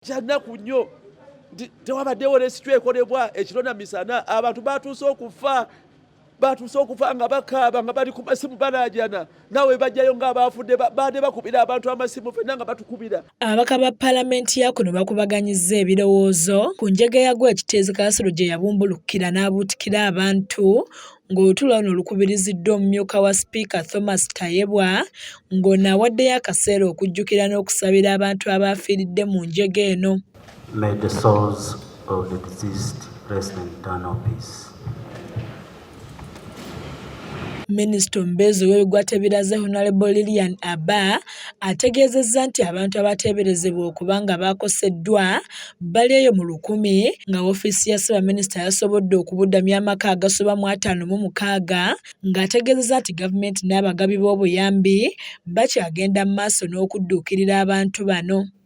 Kyannaku nnyo nti tewabaddewo resitule ekolebwa ekiro na misana. Abantu baatuuse okufa, baatuuse okufa nga bakaaba nga bali ku masimu balaajana. Nawe bajjayo ng'abaafudde baade bakubira abantu amasimu fenna nga batukubira. Ababaka ba palamenti ya kuno bakubaganyizza ebirowoozo ku njega ya gw'ekiteezi Kasolo gye yabumbulukkira n'abuutikira abantu ng'olutuula luno lukubiriziddwa omumyuka wa sipiika Thomas Tayebwa ng'ono awaddeyo akaseera okujjukira n'okusabira abantu abaafiiridde mu njega eno. May the souls of the deceased rest in eternal peace. Minisita omubeezi ow'ebigwa tebiraze Honalebo Lilian Abba ategeezezza nti abantu abateeberezebwa okuba nga baakoseddwa bali eyo mu lukumi nga woofiisi ya ssaabaminisita yasobodde okubudamya amaka agasoba mu ataano mu mukaaga ng'ategeezezza nti gavumenti n'abagabi b'obuyambi bakyagenda mu maaso n'okudduukirira abantu bano.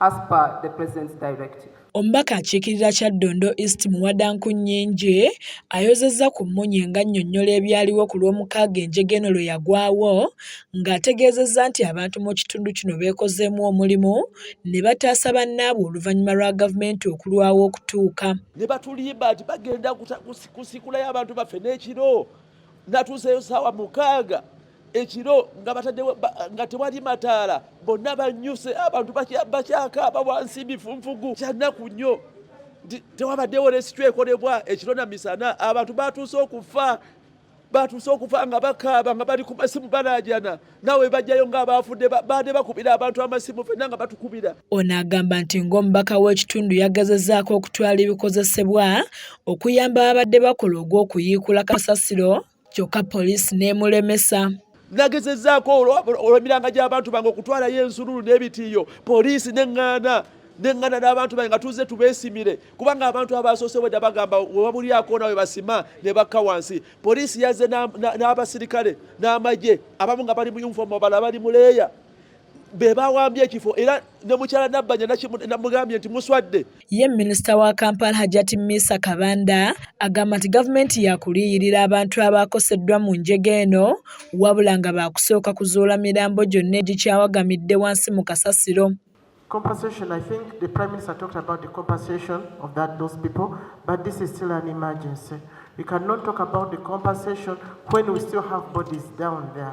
as per the president's directive. Omubaka akiikirira Kyaddondo East Muwada Nkunnyingi ayozezza ku mmunye ng'annyonnyola ebyaliwo ku Lwomukaaga enjega eno lwe yagwawo ng'ategeezezza nti abantu mu kitundu kino beekozeemu omulimu ne bataasa bannaabwe oluvannyuma lwa gavumenti okulwawo okutuuka ne batulimba nti bagenda kusikulayo abantu baffe n'ekiro natuuseyo saawa mukaaga ekiro nga bataddewo nga tewali mataala bonna banyuse abantu bakyakaaba wansi bifunfugu kyannaku nnyo tewabaddewo resityo ekolebwa ekiro na misana abantu batuuse okufa batuuse okufa nga bakaaba nga bali ku masimu balajana nawe bajjayo nga abaafudde baade bakubira abantu amasimu fenna nga batukubira ono agamba nti ng'omubaka w'ekitundu yagazazaako okutwala ebikozesebwa okuyamba babadde bakola ogw'okuyiikula kasasiro kyokka poliisi n'emulemesa. Nagezezzaako olw'emiranga gy'abantu bange okutwalayo ensululu n'ebitiiyo poliisi n'eŋŋaana nengana n'abantu bange nga tuzze tubeesimire kubanga abantu abaasoose bwedda bagamba webabulyako nawe basima ne bakka wansi poliisi yazze n'abasirikale n'amagye abamu nga bali mu yunifoomu abala bali mu leeya be bawambye ekifo era ne mukyala Nabbanja namugambye nti muswadde. Ye minisita wa Kampala Hajati Misa Kabanda agamba nti gavumenti yakuliyirira abantu abaakoseddwa mu njega eno wabula nga baakusooka kuzuula mirambo gyonna egikyawagamidde wansi mu kasasiro. Compensation, I think the Prime Minister talked about the compensation of that, those people, but this is still an emergency. We cannot talk about the compensation when we still have bodies down there.